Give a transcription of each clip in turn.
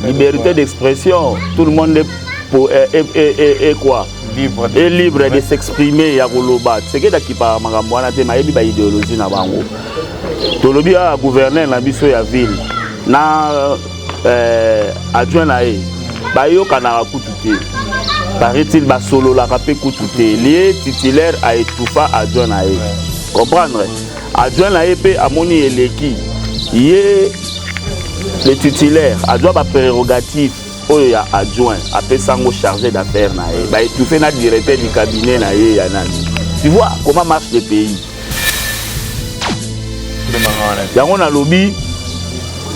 liberté d'expression tout le monde est, pour, est, est, est, est quoi libre et libre de s'exprimer ya koloba sekeda kipaka makambo wana te mayebi ba idéologie na bango tolobi awa gouverneur na biso ya ville na euh, adjoint na ye bayokanaka kutu te paraît-il basololaka mpe kutu te lie titulaire a étouffa adjoint na ye comprendre Adjoint na ye mpe amoni eleki ye le titulaire azwa ba prérogative oyo ya adjoint apesa yango chargé d'affaires na ye ba étouffe na directeur du cabinet na ye ya nani tu vois comment marche le pays yango nalobi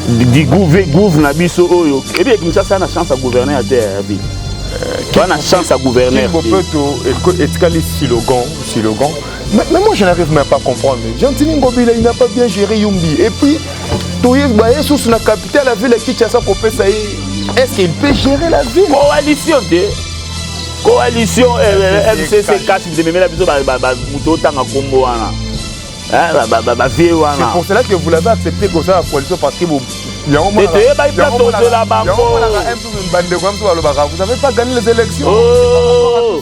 digouve gouve na biso oyo ebi ekinshasa na chance ya gouverneur ya te ya ville bana chance ya gouverneur te etikali silogan silogan Mais, mais moi je n'arrive même pas à comprendre. Gentini Ngobila il n'a pas bien géré Yumbi. Et puis toyebi baye susu na capitale ya ville ya Kinshasa kopesa ye. Est-ce qu'il peut gérer la ville? Coalition te. Coalition FCC kasi bitememela biso moto otanga kombo wana. bavie wana pour cela que vous l'avez accepté kosala coalition parce que toyebaki place tozela bango bandeko ya biso balobaka vous avez pas gagné les élections oh.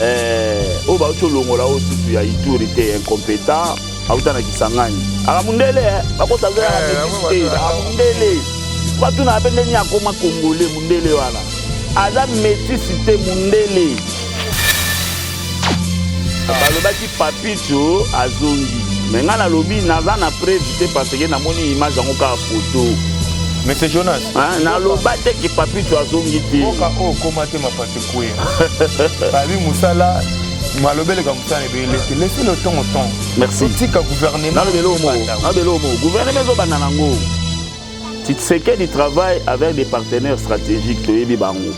Eh, oyo bauti olongola oyo susu ya ituri te incompetent auta na kisangani aka mundele eh, bakosalela eh, metisi te aka mundele batu na bende ni akoma kongole mundele wana aza metisi te mundele balobaki papicho azongi me ngai nalobi naza na preve te parce que namoni image yango kaka foto monsieur jonas naloba te ke papicho azongi te kwe babi mosala malobeleka mosala ebele te laisse le temps au temps merci otika gouvernement na lelo mo na lelo mo gouvernement ezo banda nango Tshisekedi travaille avec des partenaires stratégiques toyebi bango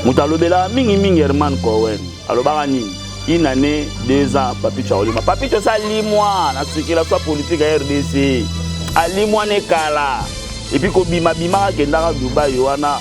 moto alobelaka mingimingi herman cowen alobaka nini une année deux ans papicho akolima papicho esi alimwa na circulation ya politike ya rdc alimwa ne kala epuis kobimabimaka kendaka dubai wana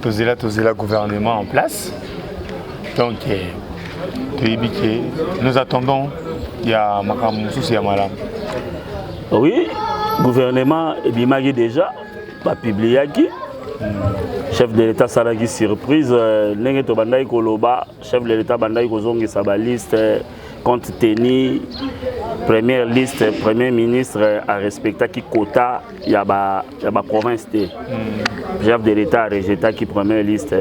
tozela tozela gouvernement en place donc eh, toyebi ke nous attendons ya makambo mosusu ya malamu oui gouvernement ebimaki déjà bapubliaki chef de l'état asalaki surprise euh, ndenge tobandaki koloba chef de l'état abandaki kozongisa baliste compte tenu première liste premier ministre arespectaki quota ya baprovince te hmm. chef de l'état arejetaki première liste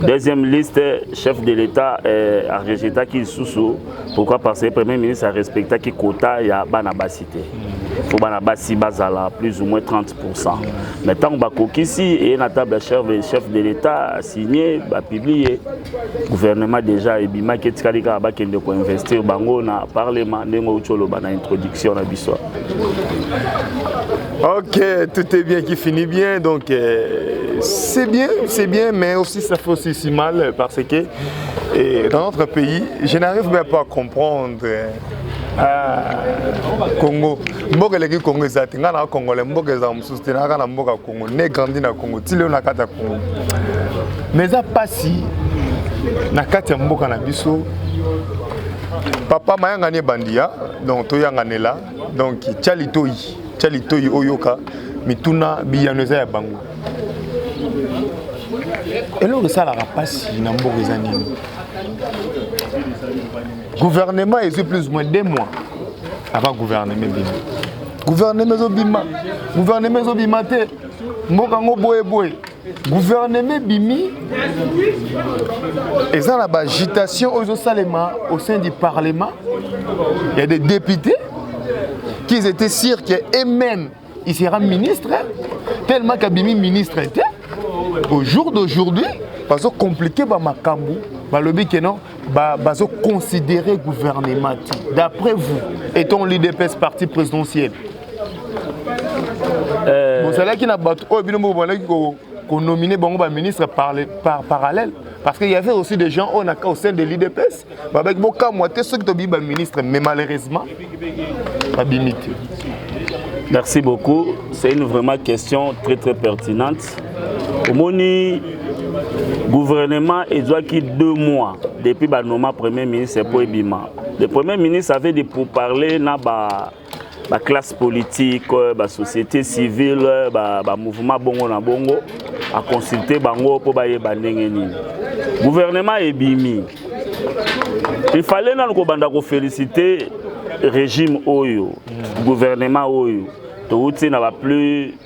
deuxième liste chef de l'état eh, arejetaki lisusu pourquoi parce que premier ministre arespectaki quota ya bana basi te hmm. mpo bana basi bazala plus ou moins 30 pour ça mais ntango bakokisi eye na table ya chef, chef de l'état asigne bapiblie gouvernement déjà ebimaki etikali kaka bakende koinvestir bango na parlement ndenge outi oloba na introduction na biso ok tout est bien qui finit bien donc euh, c'est bien c'est bien mais aussi ça fait aussi si mal parce que et dans notre pays je n'arrive même pas à comprendre Ah, congo mboka eleki congo eza te ngai na congolais mboka ezala mosusu te nayaka na mboka congo ne grandi na congo ti leo na kati ya congo mais eza mpasi na kati ya mboka na biso papa mayangani ebandi ya donc toyanganela donc tya litoi tya litoi oyoka mituna biyano eza ya bango eloko esalaka mpasi na mboka eza nini gouvernement ezwi plus moins deux mois ava gouvernement ebima gouvernement ezobima gouvernement ezobima te mboka yango boye boye gouvernement ebimi eza na bagitation oyo ezosalema au sein du parlement ya des députés qu'ils étaient sûrs que eux-mêmes il sera ministre tellement kabimi ministre te au jour d'aujourd'hui bazo compliquer ba makambu balobi que non ba, bazo considérer gouvernement d'après vous étant l'IDPS parti présidentiel euh... bozalaki na bato oyo bino moko bandaki konomine bango baministre par, par parallèle parce qu'il y avait aussi des gens au, au sein de l'IDPS babaki bokamwa te soki tobiyi baministre mais malheureusement babimi te merci beaucoup c'est une vraiment question très très pertinente omoni gouvernement ezwaki deux mois depuis banoma premier ministre mpo ebima le premier ministre avait de pourparler na ba ba classe politique ba société civile ba, ba mouvement bongo na bongo a consulter bango mpo bayeba ndenge nini gouvernement ebimi il fallait nanu kobanda kofelicite régime oyo gouvernement oyo touti na ba plus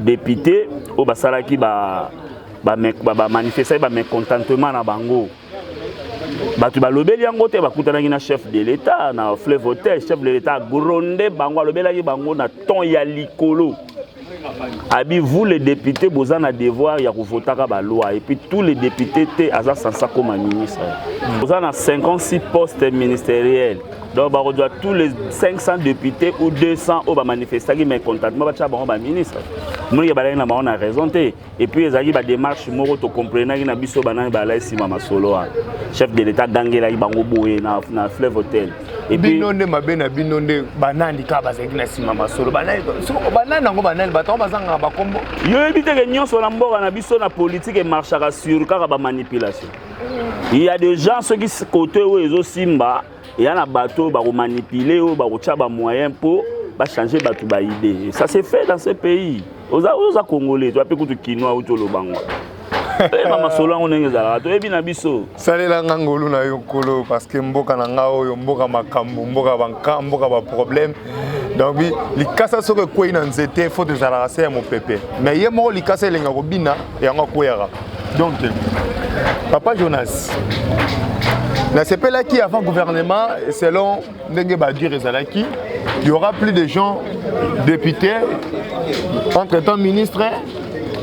depute oyo basalaki ba bamanifestaki ba, ba, ba bamecontentement na bango bato balobeli yango te bakutanaki na chef de l'état na fleuve hotel chef de l'état agronde bango alobelaki bango na ton ya likolo abi vous les députés boza na devoir ya kovotaka baloi et puis tous les députés te aza sansa koma ministre boza na 56 postes ministériels donc bakozwa tous les 500 députés ou 200 oyo bamanifestaki mécontentement batya bango baministre monike balaki na bango na raison te epuis ezalaki badémarche moko tocomprenaki na biso banani balai nsima masolo wana chef de l'état agangelaki bango boye na, na fleuve hotel bino nde mabe na bino nde banani kaka bazalaki na nsima masolo banani yango banani bato yango bazangaka bakombo yo oyebi teke nyonso na mboka na biso na politike emarchaka sur kaka bamanipulation il y a des gens soki kote oyo ezosimba eya na bato oyo bakomanipule oyo bakotya bamoyen mpo bachange bato baide ça se fait dans ce pays oza oza congolais toya mpe kutu kinois uti oloba ngo oyeba eh, masolo yango ndenge ezalaka toyebi na biso salela nga ngolu na yo nkolo parceke mboka na nga oyo mboka makambo mboka banka mboka baproblème donc likasa soki ekwei na nzete fo tozalaka se ya mopepe mais ye moko likasa elenga kobina yango akweyaka donc papa jonas nasepelaki avant gouvernement selon ndenge badure ezalaki y aura plus de gens députés entre temps ministre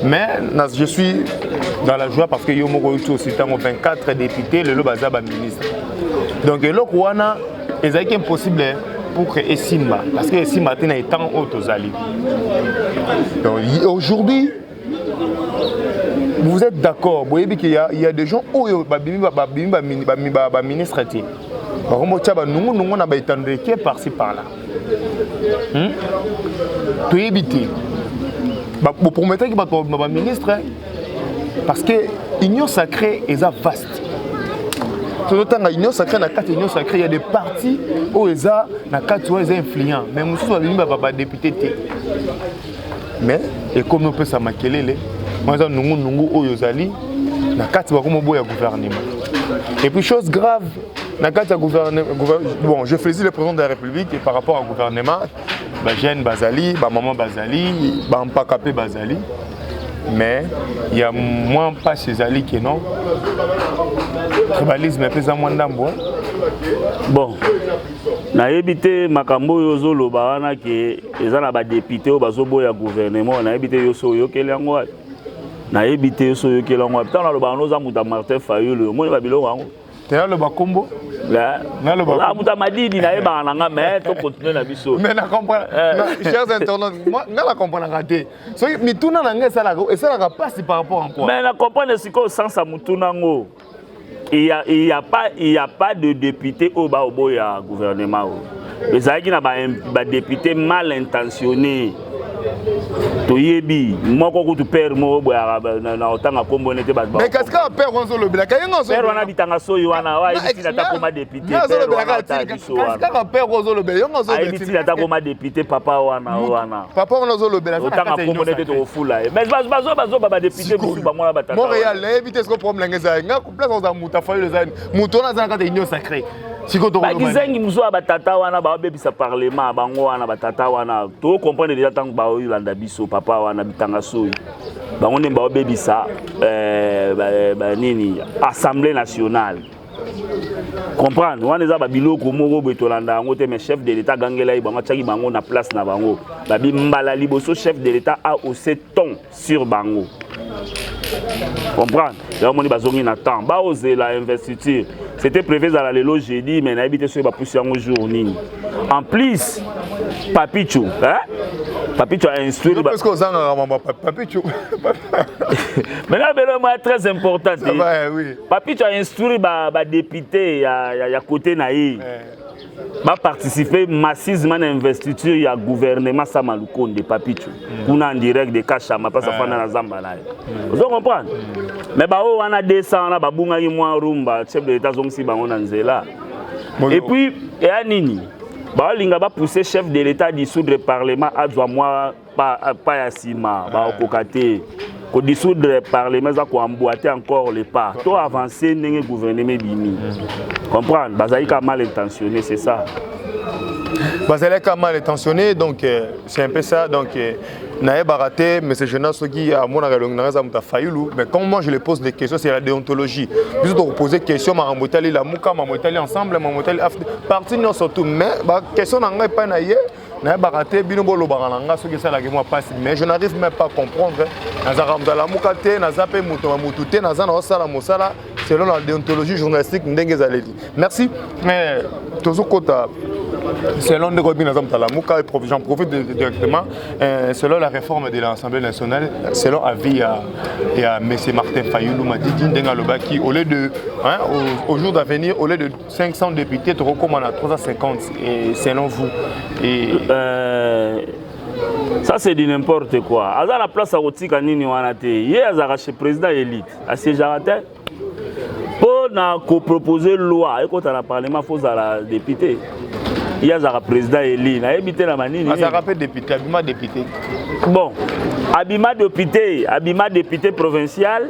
mais je suis dans la joie parce que yo moko oyoki osi ntango 24 députés lelo baza baministre donc eloko wana ezalaki impossible pour que esimba parce que esimba te na etango oyo tozali donc aujourd'hui vous êtes d'accord boyebi ke ya, ya des gens oyo babimi babimi baministre te bakombo tya banungunungu na baetando eke parci par là hmm? toyebi te boprometaki bato babima baministre parce que union sacrée eza vaste tozotanga union sacrée na kati union sacrée ya des parti oyo eza na kati oyo eza influent mais mosusu babimi badepute te mais ekomi opesa makelele wana eza nungunungu oyo ozali na kati bakoma oboya gouvernement et puis chose grave na kati ya gouvernement bon je faisais le président de la république et par rapport à gouvernement bajeune bazali bamama bazali bampaka mpe bazali mais ya mwa mpasi ezali ke non tribalisme mpe eza mwa ndambo bon nayebi te makambo oyo ozoloba wana ke eza na badepute oyo bazoboya gouvernement nayebi te yo so oyokeli yango wapi nayebi te yo so oyokeli yango wapi ntango naloba yango oza moto ya martin fayulu omoni babiloko yango te naloba nkombo naloba moto ya madidi nayebaka na nga mai tokontinue na biso mais nachers eh. internaute nga na comprenaka te soki mituna na nga esalaka mpasi par rapport en quoi mais na comprendre sikoyo sansa motuna yango il y a, il y a pas il y a pas de député oyo baoboya gouvernement oyo ezalaki na badepute ba mal intentionné toyebi moko kutu pere moko boyaka na kotanga nkombo nete bato kasi kaka pere wana azolobelaka ye wana bitanga soyi wana oyo ayebisi na ta koma depute azolobelaatakoma depute papa wana wana papa wana ozolobelaotanga kombo nete tokofula ye mais bazoba bazoba badepute mosusu bango wana batata montréal nayebi te siko problème nanga eza nga place oza moto afayoli eza moto wana aza na kati ya union sacré bakizengi mosusu ya batata wana baobebisa parlement bango wana batata wana tokokomprendre deja ntango baolanda biso papa wana bitanga soyi bango nde baobebisa eh, nini assemblée nationale comprendre wana eza babiloko moko boye tolanda yango te mais chef de l'état agangela ye bango atiaki bango na place na bango babi mbala liboso chef de l'état a ose ton sur bango comprendre yango omoni bazongi na temps baozela investiture c'était prévu ezala lelo jeudi mais nayebi te soki bapusi yango jour nini en plus papicho hein? papicho a instruire ozangaka mama papicho maintenant belo moya très important te eh, oui. papicho ainstruire badepute ya, ya, ya côté na ye eh. baparticipe massivement na investiture ya gouvernement sama lukonde papicho mm. kuna en direct de kashama mpasi eh. afanda na zamba na ye mm. ozo comprendre mm. mais baoyo wana 200 wana babungaki mwa rumba chef de l'état azongisi bango na nzela et puis eya nini baolinga bapousse chef de l'état dissoudre parlement azwa mwa pa, pa ya nsima ah. bakokoka te kodissoudre parlement eza koemboite encore le pas to avance ndenge gouvernement ebimi mm. comprendre bazali ka mal intentionné c'est ça bazali ka mal intentionné donc euh, c'est un peu ça donc euh, nayebaka te monsieur jonas soki amonaka elongi nanga eza moto ya fayulu mais comme moi je le pose des questions c'est la déontologie biso tokopose question makambo etali lamuka makambo etali ensemble makambo etali parti nyonso tout mais baquestion na ngai epai na ye nayebaka te bino bolobaka na nga soki esalaki mwa mpasi mais je n'arrive même pas comprendre nazalaka moto alamuka te naza mpe moto ya motu te naza na osala mosala selon la déontologie journalistique ndenge ezaleli merci mais tozokota selon ndeko bino naza moto alamuka et j'en profite directement euh, selon la réforme de l'assemblée nationale selon avis ya, ya monsieur martin fayulu madidi ndenge alobaki au lieu de hein, au, au jour d'avenir au lieu de 500 députés tokokoma na 350 et selon vous et... euh... ça c'est du n'importe quoi aza na place ya kotika nini wana te ye azalaka chez président élite asiégeaka te mpo na kopropose loi ekota na parlement fo ozala député ye azalaka président eli nayebi te na manini azalaka mpe député abima député bon abima député abima député provincial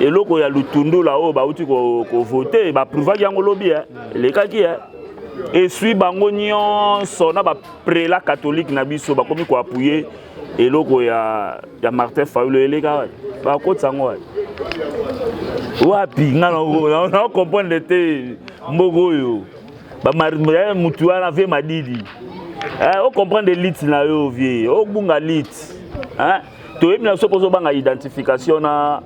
eloko ya lutundula oyo bauti kovote ko baaprouvaki yango lobi eh. elekaki eh. eswi bango nyonso na baprela katholike na biso bakomi koapuye eloko ya, ya martin fayulo eleka bakotisa yango wapi wapi nga na comprendre te mboka oyo eh, motu wana vie madidi eh, o comprendre elite na yo vie obunga lite toyebi na soki ozobanga identification na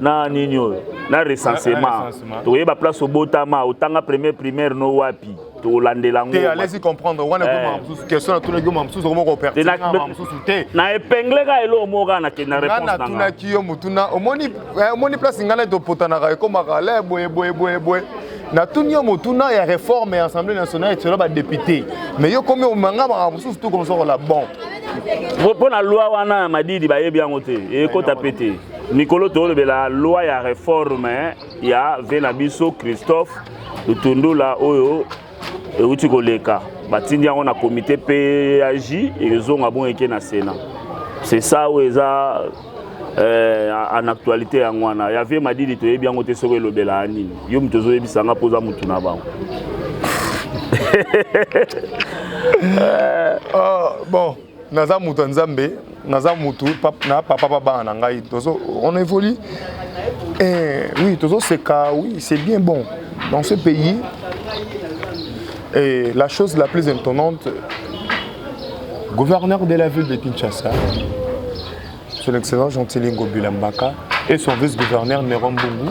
na nini oyo na recensement toyeba place obotama otanga premier primaire no wapi tolandela yango te alesi comprendre wana ekoma eh. mosusu question natunaki yo ma mosusu okoma kopertina ma mosusu te na epingle ka eloko moko kaka nakende na réponse nanga natunaki yo motuna omoni eh, omoni place ngai nai topotanaka ekomaka le boye boye boye boye natuni yo motuna ya réforme ya assemblée nationale etiola badepute mais yo komi omanga makambo mosusu tu komosoko la bon mpo na loi wana ya madidi bayebi yango te ekota mpe te mikolo tolobela loi ya reforme eh, ya ve na biso christophe lutundula oyo euti koleka batindi yango na komite paj ezonga bongo eke na sénat c'est ça oyo eza eh, en actualité yango wana ya vie madidi toyebi yango te soki elobelaka nini yo moto ozoyebisa nga mpo oza motu na bango euh, ah, bon naza moto ya nzambe naza moto na papa babana na ngai tozo on évolue eh, oui tozoseka oui c'est bien bon dans ce pays et la chose la plus étonnante gouverneur de la ville de kinshasa Son Excellence Gentili Ngobila Mbaka et son vice-gouverneur Nero Mbungu.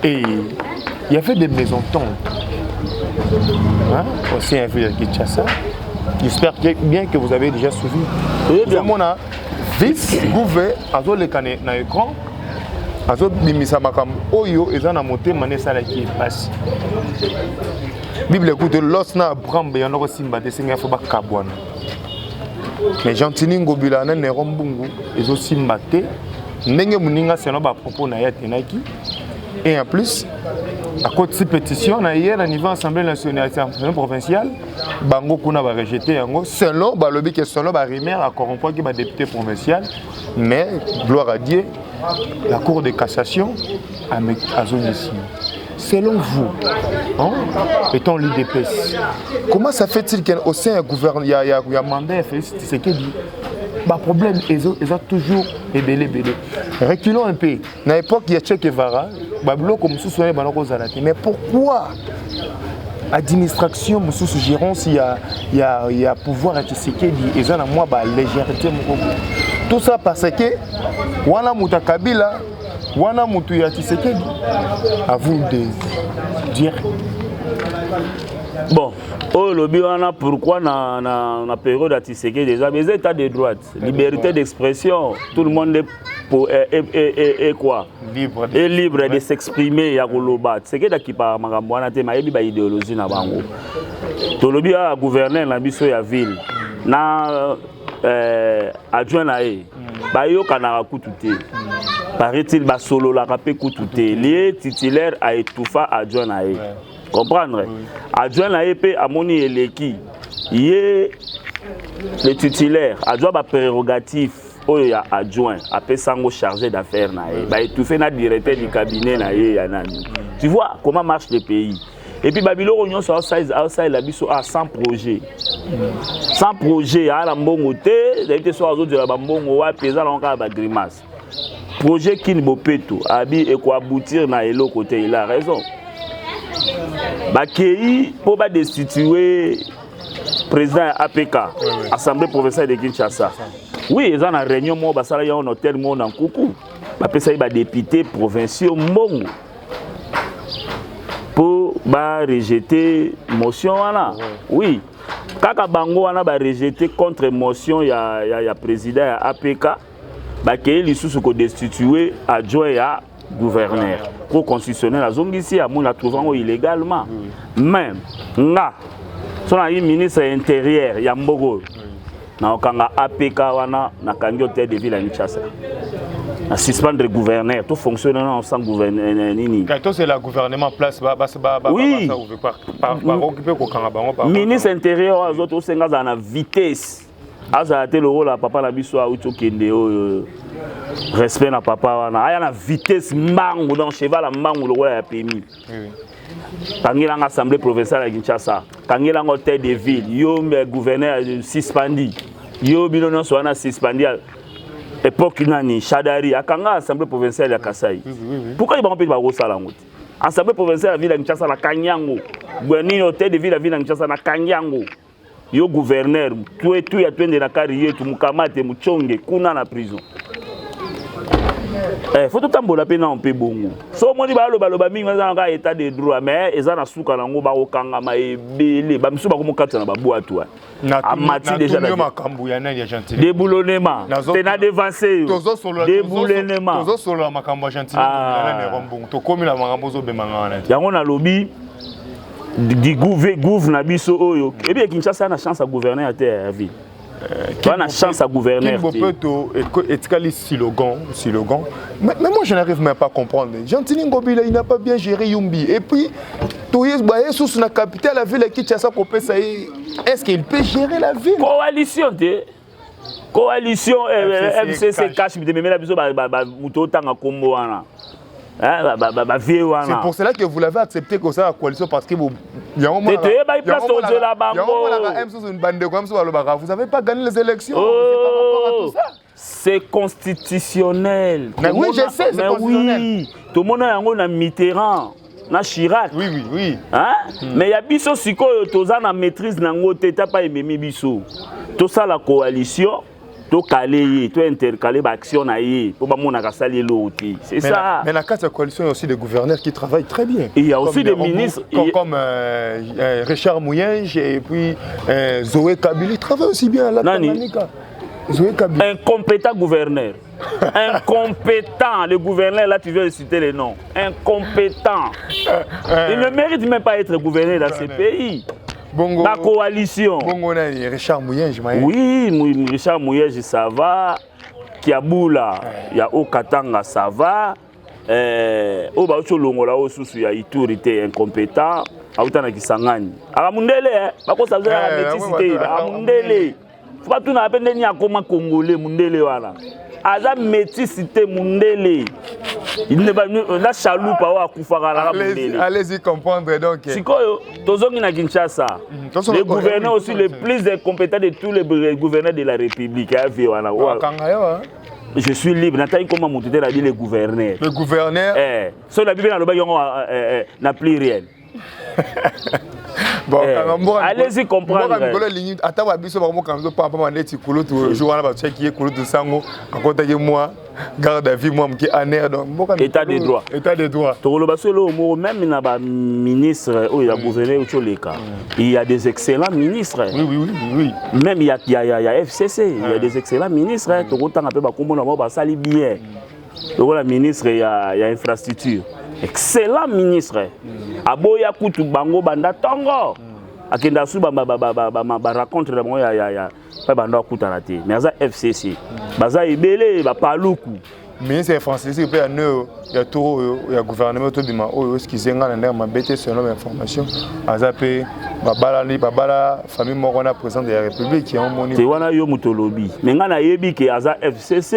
Et il y avait des mésententes hein, au sein de Kinshasa. J'espère bien que vous avez déjà suivi. Oui, bien. Mon vice-gouverneur, azo le canet na écran, azo bimisa makam oyo eza na motema ne sala ki passe. Bible écoute l'os na brambe yanoko simba te senga fo bakabwana. mais gentini ngobila na nero mbungu ezosimba te ndenge moninga selon bapropos na ye atenaki et en plus akotisi pétition na ye na niveau assemblée nationale assemblée provinciale bango kuna barejete yango selon balobi ke selon barimaire acorrompuaki badepute provincial mais gloire à dieu la cour de cassation azongisi Selon vous, hein, étant l'UDPS, comment ça fait-il qu'au sein du gouvernement, il y a, y a, y a mandat Félix Tshisekedi bah, problème ils ont, ils ont toujours ebele ebele reculons un peu na époque ya Che Guevara babiloko mosusu wana ebanda kozala te mais pourquoi administration mosusu gérance ya, ya, ya pouvoir ya tshisekedi eza na mwa balégèreté moko tout ça parce que wana moto ya kabila Wana mutu ya Tshisekedi à vous de dire bon oyo olobi wana pourquoi na, na, na période ya Tshisekedi eza eza état de droite liberté d'expression tout le monde est pour est, est, est, est quoi libre est libre de s'exprimer ya koloba Tshisekedi akipaka makambo wana te mayebi ba idéologie na bango tolobi ya gouverneur na biso ya ville na eh, adjoint na ye mm. bayokanaka kutu te mm. paraît-il basololaka mpe kutu te lie titulaire aetufa adjoint na ye comprendre adjoint na ye mpe amoni eleki ye le titulaire adjoint baprerogative oyo ya adjoint apesa yango chargé d'affaires na ye baetufe na directeur du cabinet na ye ya nani mm. tu vois comment marche le pays et puis babiloko nyonso aosalela biso a ah, sans projet sans projet aa na mbongo te ezali te soki azozela bambongo wapi eza nango kaka bagrimace projet kini bopeto abi ekoaboutir na eloko te il a raison bakei mpo badestitue président ya apk assemblée provinciale de kinshasa oui eza na réunion moko basalaki yango na hôtel moko na nkuku bapesaki badepute provinciaux mbongo mpo barejete motion wana oui kaka bango wana barejete contre motion ya, ya, ya président ya apk bakei lisusu kodestitue adjoint ya gouverneur pro constitutionnel azongisi amoni atrouve yango illégalement mais nga so nayi ministre ya intérieur ya mboka oyo Na okanga APK wana na kangi hôtel de ville à Kinshasa. Na suspendre gouverneur, tout fonctionne non sans gouverneur euh, euh, nini. Kato c'est la gouvernement place ba ba ba ba oui. ba ouvrir par par par mm. occuper ko kanga bango par. Ministre intérieur azo to senga za na vitesse. Aza te le rôle papa na biso a uto kende oyo. Respect na papa wana. Aya na vitesse mbangu dans cheval mbangu lokola ya pemi. kangela nga assemblée provinciale ya kinshasa kangela nga hôtel de ville yo gouverneur suspendi yo bino nyonso wana suspendi époque nani shadari akanga assemblée provinciale ya kasai pourquoi ye bango mpe bakosala yango te assemblée provinciale ya ville ya kinshasa nakangi yango nini hôtel de ville ya ville ya kinshasa nakangi yango Yo gouverneur, tue tu ya twende na kari yetu mukamate muchonge kuna na prison. Eh, faut totambola mpe nao mpe bongo so omoni balobaloba mingi eza na kaka état de droit mais eza na suka nango bakokangama ebele bamisusu bakomokatisa na babwatu wana amati déjà makambo ya nani ya gentile deboulonnement te na devance yo deboulonnement tozosolola makambo ya gentile ah. mbongo tokomi na makambo ozobemanga wana yango nalobi gouve gouve na biso oyo ebi ya kinshasa na chance ya gouverneur ya te ya ville Pas la chance à gouverner. Kimbopeto etikali slogan, slogan. Mais, mais moi je n'arrive même pas à comprendre. Gentini Ngobila il n'a pas bien géré Yumbi et puis toyes baye sous la capitale la ville qui tchassa kopesa est-ce qu'il peut gérer la ville? Coalition de coalition fcc eh, eh, cash bitememela biso moto otanga kombo wana Hein, bah, vieux wana c'est pour cela que vous l'avez accepté que ça la coalition parce que vous yango mona te yeba place to zela bango yango mona ba M sous une bande de comme ça balobaka vous avez pas gagné les élections oh. c'est par rapport à tout ça c'est constitutionnel mais oui je sais c'est constitutionnel oui tomona yango na Mitterrand na Chirac oui, oui, oui. Hein? Mm. mais ya biso sikoyo toza na maîtrise na yango te tapa ememi biso tosala coalition tokale ye to intercale baaction na ye mpo bamonaka asali eloko te c'est ça mais na kati ya coalition ya aussi des gouverneurs qui travaillent très bien il y a aussi des ministres comme, comme euh, euh, Richard Mouyenge et puis euh, Zoé Kabili travaille aussi bien à la Tanganyika Zoé Kabili incompétent gouverneur Incompétent, le gouverneur, là tu viens de citer les noms. Incompétent. Euh, euh. Il ne mérite même pas être gouverneur dans ce pays. Bongo, la coalition. Bongo, Richard Mouyenji. Oui, Richard Mouyenji, ça va. Kiaboula, il y a Okatanga, ça va. Euh, oyo bauti olongola oyo susu ya ituri te incompétent auta na kisangani akamundele eh, bakosa zala metisi te akamundele batunaka mpe ndeni akoma congolais mundele wana aza metisi te mundele na chalupa oyo akufaka laka mundele tozongi na kinshasa mhm, le gouverneur aussi le plus incompétent de tous les gouverneurs de la république ya vie wana je suis libre nataki koma motu te nabi le gouverneur le gouverneur eh, soki nabi mpe nalobaki yango eh, eh, na pluriel alezi comprendremikolo elingi ata ba biso bakomokanga biso pampama neti kulutu jour wana batiaki ye kulutu nsango akotaki mwa garde à vie mwa moke aner donc mboka état de droit état de droit tokoloba so eloko moko même na ba ministre oyo ya gouverneur uti oleka mm. il y a des excellents ministres oui, oui, oui, oui. même ya, ya, ya, ya fcc il y a ah. des excellents ministres mm. tokotanga mpe bakombo na bango basali bien mm. lokola ministre ya, ya infrastructure excellent ministre aboya kutu bango banda ntongo akenda asu barencontre na bango ya mpe banda akutana te mais aza fcc baza ebele bapaluku ministre ya francis mpe ya neo ya tour oyo ya gouvernement tobima oyo eskize ngai na ndenge mabe te selon ba information aza mpe babalani babala famille moko na président de la république yango moni te wana yo moto olobi me ngai nayebi ke aza fcc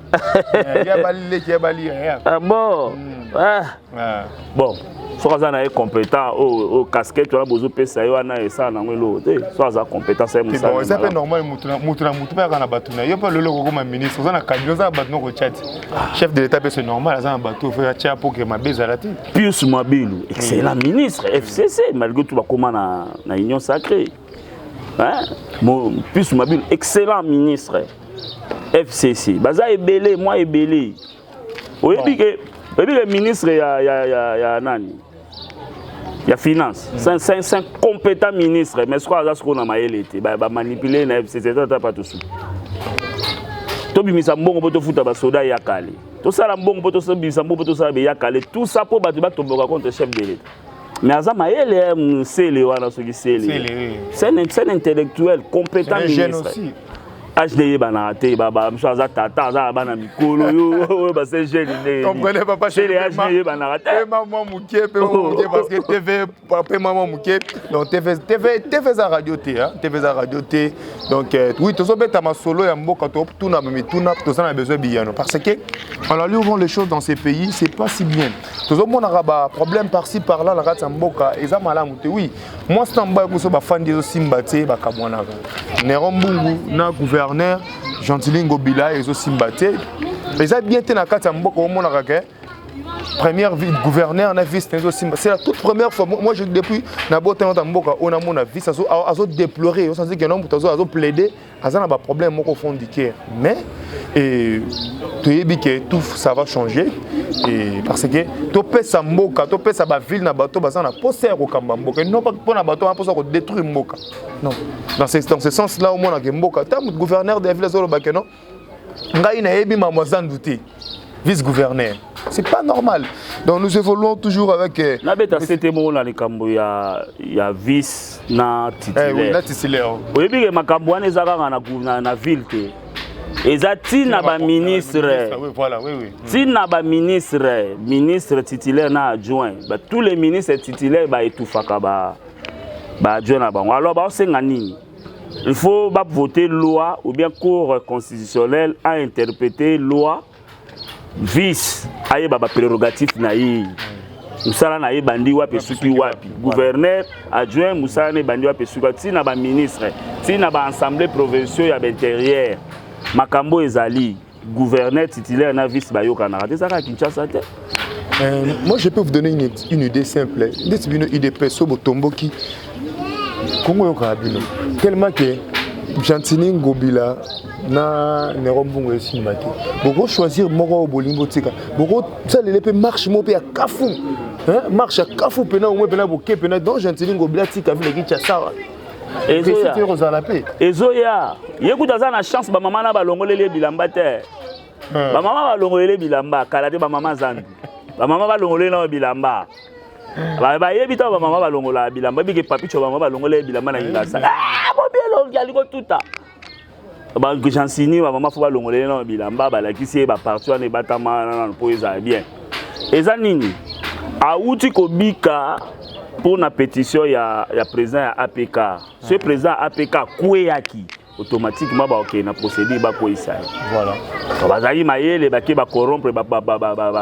ah bon hmm. ah. Ah. bon soki aza na ye compétent oyo oh, oh, casquette wana bozopesa ye wana esala nango eloko te soki aza compétence ye mosalaeza mpe normal motu na motu mpe aka na bato na ye mpe lelo kokoma ministre oza na kabila oza na bato noko tya te ah. chef de l'état mpe se normal aza na bato oyo atya mpo ke mabe ezala te pius mabilu excellent ministre fcc malgré tout bakóma na union sacrée hein mon plus mabile excellent ministre FCC baza ebele moi ebele oyebi ke oyebi ke ministre ya ya ya, ya nani ya finance mm. c'est un compétent ministre mais sikoyo aza sikoyo na mayele te bamanipule na fcc eza ata pa tosuki tobimisa mbongo mpo tofuta basoda ya kale tosala mbongo mpo tobimisa mbongo mpo tosala beya kale tout ça mpo bato batomboka contre chef de l'etat mais aza mayele ya mosele wana soki sele scène intellectuel compétent ministre age nde eyebanaka te bamisu aza tata aza na bana mikolo yo oyo base jeune ndesele age nde eyebanaka tepema mwa moke mpe moke parce que tv pema mwa moke donc tv eza radio te tv eza radio te donc euh, oui tozobeta masolo ya mboka totuna mituna toza na besoin biyano parce que en alliant les choses dans ces pays c'est pas si bien tozomonaka ba problème parci par là na kati ya mboka eza malamu te oui mwasi na mobali koso bafandi ezosimba te bakabwanaka nero mbungu na gouverneur gentilingo bila ezosimba te eza bien te na kati ya mboka omonaka ke première ville gouverneur na vice na ezosimba c'est la toute première fois moi je depuis na botana ta mboka oyo namona vice azo déplorer osanzi ke no moto azo plaider aza na baproblème moko fond du cœur mais toyebi ke tout ça va changer et parce que topesa mboka topesa bavile na bato baza na mposa ya kokamba mboka non pas mpo na bato wana mposa kodétruire mboka non dans ce, dans ce sens là omonake mboka ntango gouverneur de la ville azoloba ke non ngai nayebi mambo ya zandu te vice-gouverneur. C'est pas normal. Donc nous évoluons toujours avec. Euh, Nabeta c'était mon na likambo ya ya vice na titulaire. Eh oui, na titulaire. Oyebi ke makambo wana ezaka na na, na ville te. eza ntina baministre ntina baministre ministre titulaire na adjoint tous les ministres titulaire baetufaka baadjoint na bango alors baosenga nini Il faut ba voter loi ou bien cour constitutionnelle a interpréter loi vice ayeba ba prérogatifs na ye mosala na ye ebandi wapi esuki wapi gouverneur adjoint mosala na ebandi wapi esuki wapi ntina baministre ntina baassemblée provinciaux ya baintérieur makambo ezali gouverneur titulaire na vice bayokanaka te ezaka kinshasa te Euh, moi, je peux vous donner une, une idée simple. Ndeti bino IDP so botomboki Kongo yoka bino. Tellement que Gentini Ngobila na Nero Mbungo esimba te. Boko choisir moko oyo bolingi botika. Boko salele mpe marche moko mpe ya kafu. Hein? Marche ya kafu mpena omwe mpena boke mpena donc Gentini Ngobila tika vile kicha sawa. ezoya ye kutu aza na chance bamama na balongoleli ye bilamba te hmm. bamama balongoleli ye bilamba kala te bamama zambi bamama balongoleli nao bilamba bayebi ntango bamama balongolaka bilamba ebike papicho bamama balongoleli ye bilamba na kingasa ah, bobi elongi alingi otuta ba jansini ba mama fo balongola ye nano bilamba balakisi ye baparti wana ebatama nano mpo ezala bien eza nini awuti kobika mpo na petition ya, ya président ya apk soki président ya apk akweyaki automatiquement bakokende na procédure bakweyisa ye voilà. bazali mayele bake bacorompre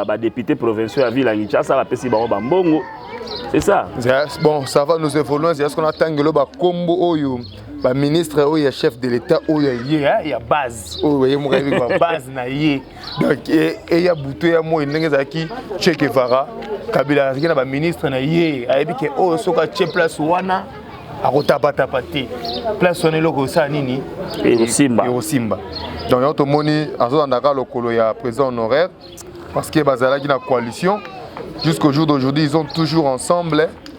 badepute provinciaux ya ville ya kinshasa bapesi bango bambongo c'est ça bon ça va nous évoluons est ce qu'on a tangelo bakombo oyo oh, ba ministre oyo ya chef de l'etat oyo ya ye hein, ya base oyo ye moko ayebi ba base na ye donc e, eya butu ya moi ndenge ezalaki che guevara kabila azalaki na ba ministre na ye ayebi ke oyo soki atie place wana akotabataba te place wana eloko osala nini ekosimba ekosimba donc yango tomoni azolandaka lokolo ya président honoraire parce que bazalaki na coalition jusqu'au jour d'aujourd'hui ils ont toujours ensemble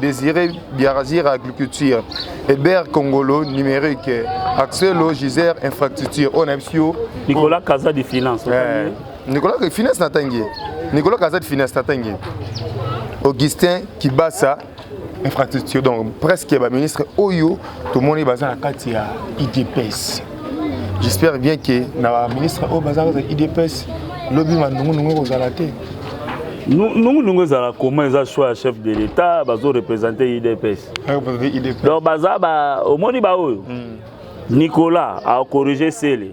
Désiré Biarazir agriculture, Eber Congolo numérique, Axelo Gisère infrastructure, on a Nicolas Kaza de finance. Euh, Nicolas de finance natangi. Nicolas Kaza de finance natangi. Augustin Kibasa infrastructure donc presque ba ministre oyo tomoni baza na kati ya idps j'espère bien que na baministre oyo baza kati ya idps lobi mandungunungu ekozala te nungunungu ezala koma eza choix ya chef de l'état bazo représente idps donc baza omoni baoyo hmm. nicolas akorige sele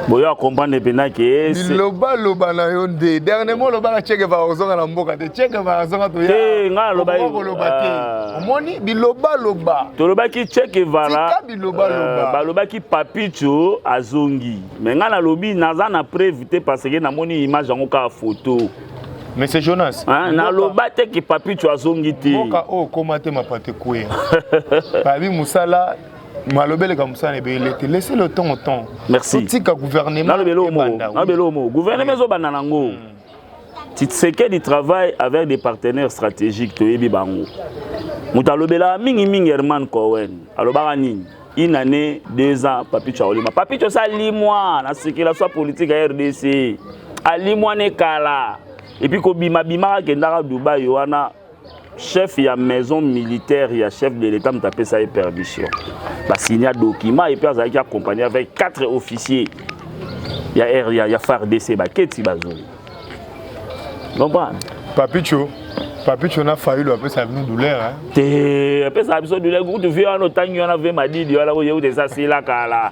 boyo akomprendre mpenza ke biloba loba na yo nde dernièrement olobaka chekeva ozonga na mboka te chekeva azonga toya ngai alobakoloba te ah. omoni biloba loba tolobaki chekevara euh, balobaki papicho azongi me ngai nalobi naza na preuve te parce que namoni image yango kaka photo Monsieur Jonas. Hein, na loba te ki papicho azongi te. Mboka o oh, koma te mapate kuya. Babi musala malobeleka mosala ebele te laisse le temps au temps merci otika gouvernement nalobelomo gouvernement ezobanda nango hmm. tshisekedi travaille avec des partenaires stratégiques toyebi bango moto alobelaka mingimingi herman cohen alobaka nini une année deux ans papicho akolima papicho osa alimwa na circulation politique ya rdc alimwa ne kala epuis kobimabimaka kendaka dubai wana chef ya maison militaire ya chef de l'état moto apesa ye permission basinya document epe azalaki accompagné avec quatre officiers ya r ya, ya fardc baketi bazoi comprendre papicho papicho na fayulu apesaka bino douleur hein? te apesaka biso douleur kutu vie wana otangi wana vie madidi wana oyeute eza sila kala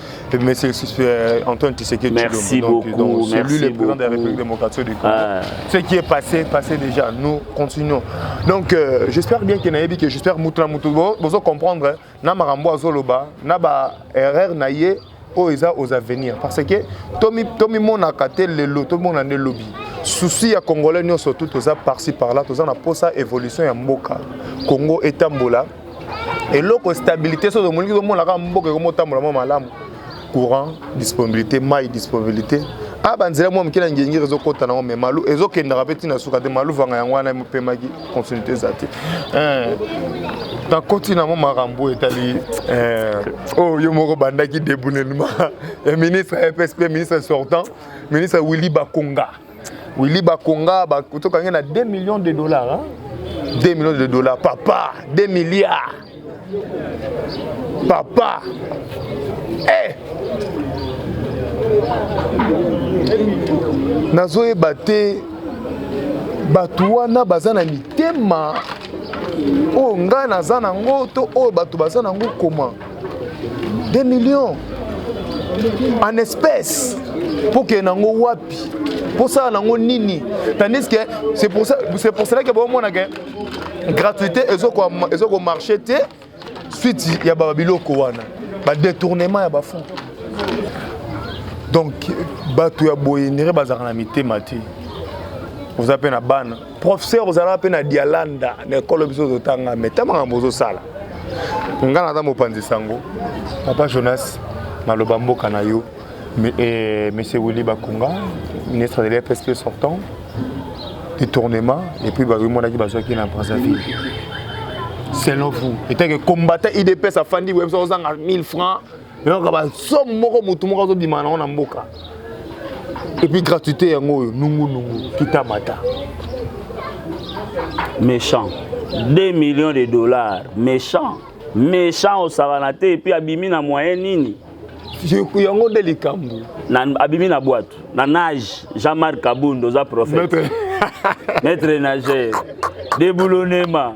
Merci euh, Antoine Tshisekedi Merci donc, beaucoup. Donc, celui merci le président beaucoup. de la République démocratique du Congo. Ah. Ce qui est passé, passé déjà. Nous continuons. Donc euh, j'espère bien que nayebi que j'espère mutuna mutu bozo comprendre hein. na marambo azoloba na ba erreur na ye oyo oh, eza aux avenirs parce que tomi tomi mona kate lelo tomi mona ne lobby souci ya congolais nyonso tu toza parci par là toza na posa évolution ya mboka congo etambola eloko stabilité soki omoniki omona kaka mboka ekomi otambola mwa malamu courant disponibilité mai disponibilité a ah, banzela mwa moke na ngengiri ezokɔta nango mai malu ezokendaka mpe ntina suka te malu vanga yango wana emopemaki continuité eza te eh, nakoti nango makambo etali eh, oyo oh, yo moko bandaki debunelema ya ministre ya epsp ministre sortant ministre willy bakonga Willy Bakonga tokangi na 2 millions de dollars hein? 2 millions de dollars papa 2 milliards papa eh nazoyeba te bato wana baza na mitema oyo ngai naza nango to oyo bato baza nango koma 2 millions en espèce mpo kende nango wapi mpo sala nango nini tandis que c'est pour cela que bomona ke gratuité ezokomarche te suite ya babiloko wana badetournement ya bafond donc bato ya boye ndenge bazalaka na mitema te oza mpe na bana professeur ozalaka mpe na dialanda na ekolo biso totanga me ta makambo ozosala ngai naza mopanzi sango papa jonas naloba mboka na yo eh, monsieur willy bakunga ministre de l'fsp sortant détournement et puis bakoki monaki bazwaki na brazzaville selon vous etake combattant idps afandi websa ozanga 1000 francs nayoka basomo moko motu moko azobima nango na mboka epuis gratuité yango oyo nungunungu kitamata méchant 2 millions de dollars méchant méchant osakana te epuis abimi na moyen nini yango nde likambo abimi na bwato na nage jean marc kabund oza prophète maître nageur deboulonnema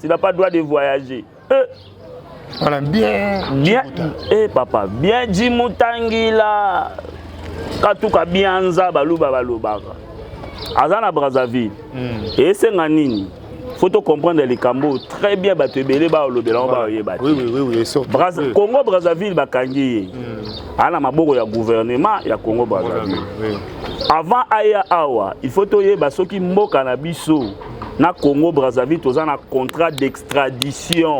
Tu n'as pas droit de voyager. Euh. Voilà, bien. Bien. Eh papa, bien dit Moutangila. Katuka bianza baluba balubaka. Aza na Brazzaville. Mm. Et c'est nini faut to comprendre likambo très bien bato ebele baolobela yango baoyeba te congo brazzaville bakangi ye hmm. aa na maboko ya gouvernement ya congo brazzaville avant aya awa il faut toyeba soki mboka na biso na congo brazzaville toza na contrat d'extradition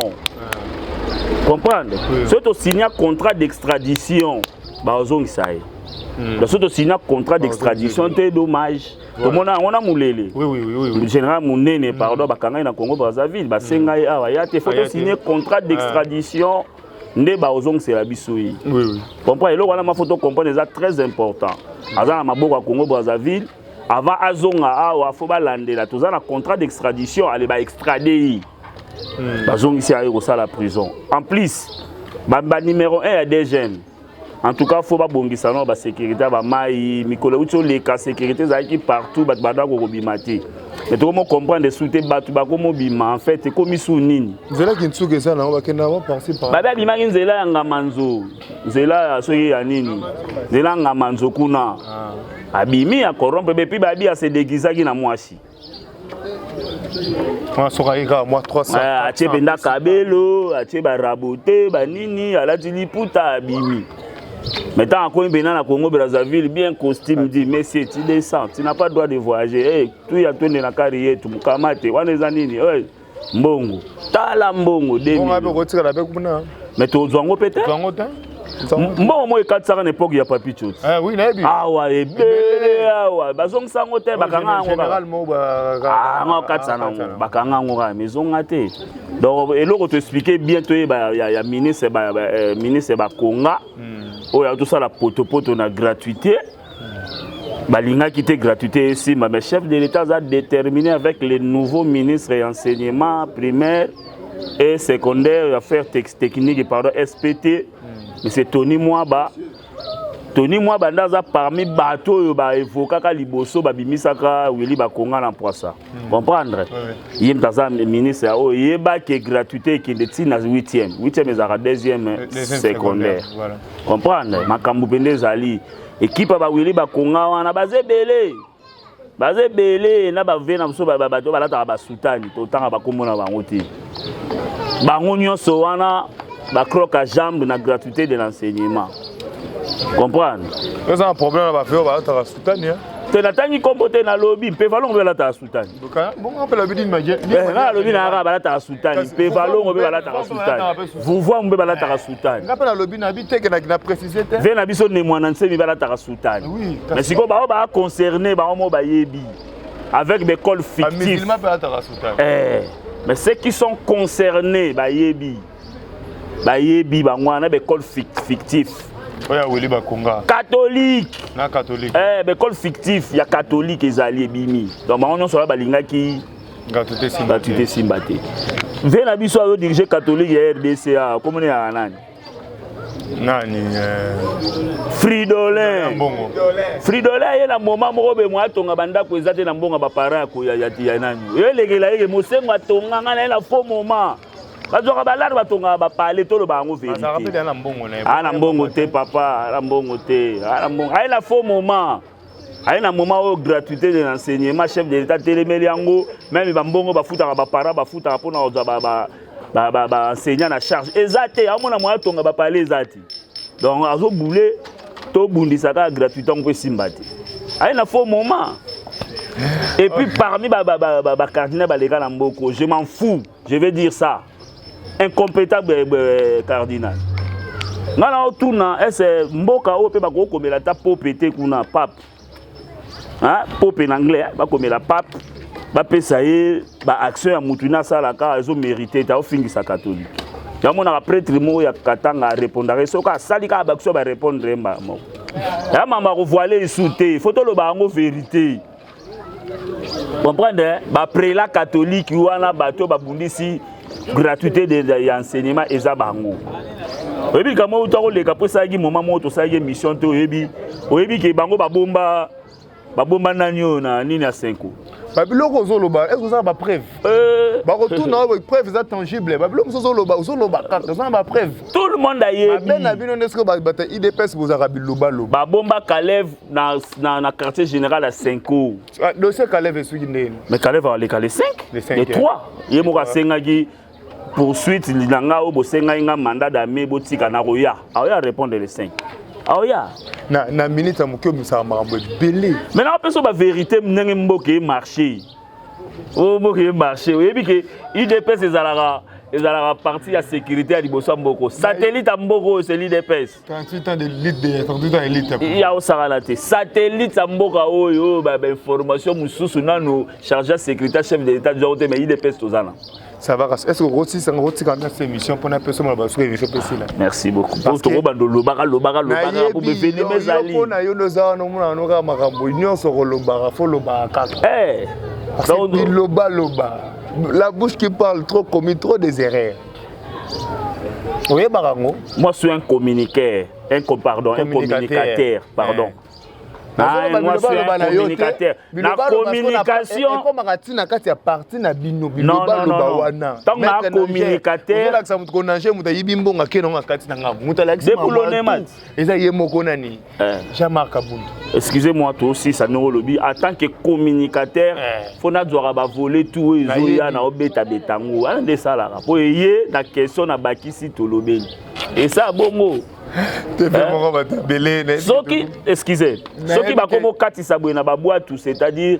comprendre oui. soki tosigna contrat d'extradition bazongisa ye hmm. donc soki tosigna contrat d'extradition te dommage tomona yango na mulele général monene hmm. pardon bakanga ye na congo brazzaville basenga ye awa ya te fo tosigne contrat ah. d'extradition nde bakozongisela biso ye comprendre eloko wana mafo tocomprendre eza très important aza na maboko ya congo brazzaville avant azonga awa fo balandela toza na contrat d'extradition ale ba extrade ye hmm. bazongisi aye kosala prison en plus banuméro 1 ya dgm en tout cas fo babongisa nao basécurité ya bamai mikolo euti oleka sécurité ezalaki partout bato banda kokobima te me tokomi okomprendre su te bato bakomi obima en fait ekomi su nini nzela kinsuka eza nango bakenda yango parci par babe abimaki nzela ya ngamanzo nzela ya soki ya nini nzela ngama nzo kuna ah. abimi ya corrompre bepi babi ya se déguisaki na mwasi asokaki kaka mwa 300 ah, atie mpenza kabelo atie barabote banini alati liputa abimi Mais tant qu'on est na Congo Brazzaville bien costume dit monsieur tu descends tu n'as pas droit de voyager hey, tu ya tonde na carrière tu mukamate wana eza nini hey. mbongo tala mbongo dekotikala mpe kuna me tozwa yango mpe te mbongo moko ekatisaka na epoke ya papi coti eh, awa ebele awa bazongisa yango te bakanga yango ah, katisa nango bakanga yango kaka mezonga te donc eloko toexplike bien toyeba ya ministre eh, bakonga hmm. oyo atosala potopoto na gratuité balingaki te gratuité esimba mais chef de l'état aza déterminé avec le nouveau ministre ya enseignement primaire et secondaire ya affaire technique pardon spt hmm. monsieur tony mwaba tony mwaba nde aza parmi bato oyo baevokaka liboso babimisaka wili bakonga na mpwasa Hmm. comprendre ye moto aza ministre ya oyo yeba ke gratuité ekende ti na 8e 8e ezalaka 2e secondaire comprendre makambo mpenza ezali ekipe ya bawili bakonga wana baza ebele baza ebele na bave na biso bato balataka basutani totanga bakombo na bango te bango nyonso wana bacroque a jambe na gratuité de l'enseignement comprendre eza na problème na bave oyo balataka Tania. te natangi nkombo te nalobi mpe valongo mpe balataka sutani nalobi na yaka balataka sutani mpe valongo mpe balataka sutani vuvuamu mpe balataka sutani ve na biso ne mwana nsemi balataka sutani mais sikoyo bango baa concerne bango mo bayebi avec des cols fictifs eh, mais ceux qui sont concernés bayebi bayebi bango wana na baekole fictif oyo ya wili bakonga katolike na katolike eh, baekole fictif ya katolike ezali ebimi donc bango nyonso wana balingaki ngatu te esimba te vie na biso azodirige katolike ya rdc a komona yaka nani nani eh, fridolin fridolin aye na moma moko be mwa atonga bandako eza te na mbongo ya baparent ya nani yo elekela yeke mosengo atonga ngai na ye na faux moment bazwaka balare batongaka bapale toloba yango verite na mbongo te papa na mbongo te aye na faux moment aye na moment oyo gratuité de l'enseignement chef de l'état telemeli yango meme bambongo bafutaka baparent bafutaka mpona kozwa baenseignant na charge eza te amona moya tonga bapale eza te donc azobule tobundisa kaka gratuité yango mpo esimba te aye na faux moment et puis parmi bacardinal baleka na mboko je m'en fous je vais dire ça incompétable eh, eh, cardinal ngai na otuna ese mboka oyo mpe bakoki komela ata pope te kuna pape pope na anglais eh, bakomela pape bapesa ye baaction ya motu ina asalaka ezomerite te aofingisa katolike yamonaka pretre moko ya katanga arepondaka ye soki asali kaka baaction barepondre ye mbala moko ya mama kovoile esu te fo toloba yango verite comprendre baprela katolike wana bato babundisi gratuité ya enseignement eza bango oyebi likambo oyo takoleka mpo esalaki moma moko tosalaki émission te oyebi oyebi ke bango babomba babomba nani oyo na nini ya senko babiloko ozoloba ezo ozala bapreuve euh. bakotuna oyo preuve eza tangible babiloko mosusu ozoloba ozoloba kaka oza na bapreuve tout le monde ayebiabe na bino nde soki bata idps bozalaka bilobaloba babomba kaleve na, na, na quartier général ya senco ah, dossier kaleve esuki ndeni mais kaleve aleka le 5 le 3 ye moko asengaki poursuite na ngai oyo bosengaki ngai mandat dame botika nakoya aoya répondre le 5 aoya na, na minute ya moke omisaka makambo ebele mai nakopesa baverité ndenge mboka emarché oyo mboka emarché oyebi ke udps ezalaka ezalaka parti ya sécurité ya liboso ya mboko satellite ya mboko oyo se l'udps 38 ans de lutte de 38 ans de lutte ya osakana te satellite ya mboka oyo bainformation mosusu nano charge ya sécurité chef de l'état bizango te mais idps toza na ça va est ce que okotisa ngo otika na cette émission pona peso mala basuka émission pesi là merci beaucoup parce que bando lobaka lobaka lobaka pour beveni mezali pona yo ndoza wana mona noka makambo nyonso ko lobaka fo lobaka kaka eh donc loba loba la bouche qui parle trop commis trop des erreurs oyebaka yango moi suis un communiquer un pardon un communicateur pardon eh. Ah, moi suis un communicateur na communication ekomaka ti na kati ya parti na bino bilobaloba wana ntango na communicateur olakisa moto konange moto ayibi mbongo akenda ngo na kati na ngambo moto alakisi eza ye moko nani eh. jean marc abundu excusez moi tosilisa ndenge olobi en tant que communicateur eh. fo nazwaka bavole tu oyo ezoya na obetabeta yango wana nde esalaka mpo eye na question na bakisi tolobeli esa bongo eh. soki excuse soki bakoma okatisa boye na babwatu c'est-à-dire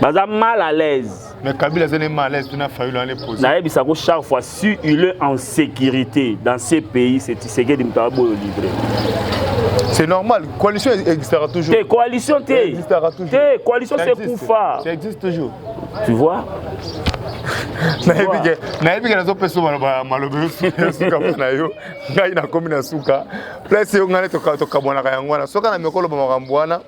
baza mal à l'aise mais kabila azali mal à l'aise tuna fayulu ane pose nayebisa ko chaque fois si il est en sécurité dans ce pays c'est tisekedi moto aboyo livre c'est normal coalition existera toujours te coalition te existera toujours te coalition c'est kufa ça existe toujours tu vois nayebi ke nazopesa maloba yosuka mpo na yo ngai nakomi na suka place yo ngai tokabwanaka yango wana soki na mekoloba makambo wana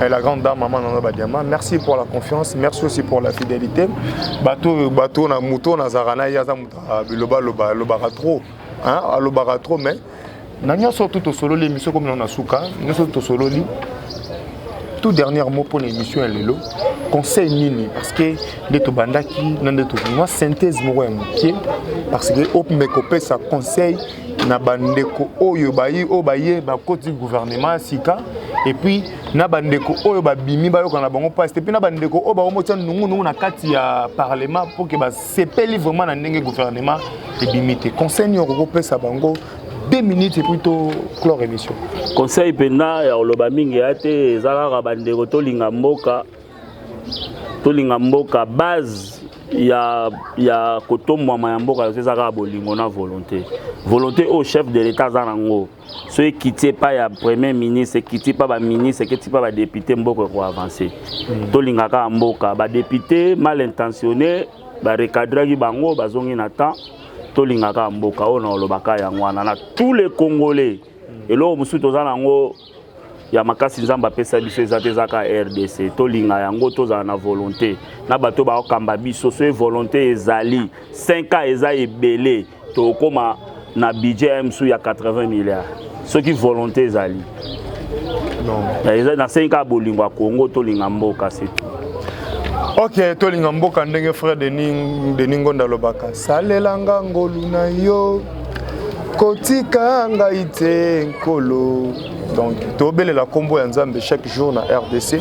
Eh, la grande dame maman nanga badiama merci pour la confiance merci aussi pour la fidélité bato bato na moto nazalaka na ye aza moto biloba loba alobaka trop alobaka trop mais na nyonso tu tosololi émission komi na suka nyonso tu tosololi tout dernier mot mpo na émission ya lelo conseil nini parce que nde tobandaki na nde tokomwa synthèse moko ya moke parce que omeka opesa conseil na bandeko oyo bayi oyo baye bakoti gouvernement ya sika epuis na bandeko oyo babimi bayoka na bango mpasi te mpe na bandeko oyo bango motya nungunungu na kati ya parlement mpo ke basepeli vraiment na ndenge gouvernement ebimi te conseil nini okoki kopesa bango 2 minutes epuis to clore émission conseil mpenza ya koloba mingi ya te eza kaka bandeko tolinga mboka tolinga mboka base ya, ya kotombwama ya mboka yoso eza kaka bolingo na volonté volonté oyo chef de l'état aza nango so ekiti epai ya premier ministre ekiti epai baministre ekiti epai badepute mboka ekoavanse mm. tolinga kaka mboka badepute mal intentionné barecadraki bango bazongi na temps tolinga kaka mboka oyo na olobaka yango wana na tous les congolais mm. eloko mosusu toza nango ya makasi nzambe apesa biso eza te ezaka rdc tolinga yango tozala na volonté na bato bakokamba biso soki volonté ezali 5 ans eza ebele tokokoma na budget msu ya 80 milliards soki volonté ezali na 5 ans bolingo ya congo tolinga mboka se ok tolinga mboka ndenge frère denis ngonda alobaka salelanga ngolu na yo kotika ngai te nkolo donc tobelela nkombo ya nzambe chaque jour na rdc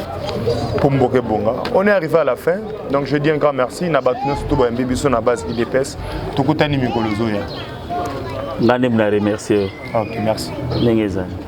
mpo mboka ebonga on est arrivé à la fin donc je dis un grand merci na bato nyonso to bayambi biso na base idps tokutani mikolo ezoya ngai nde mna remercie yo ok merci ndenge ezali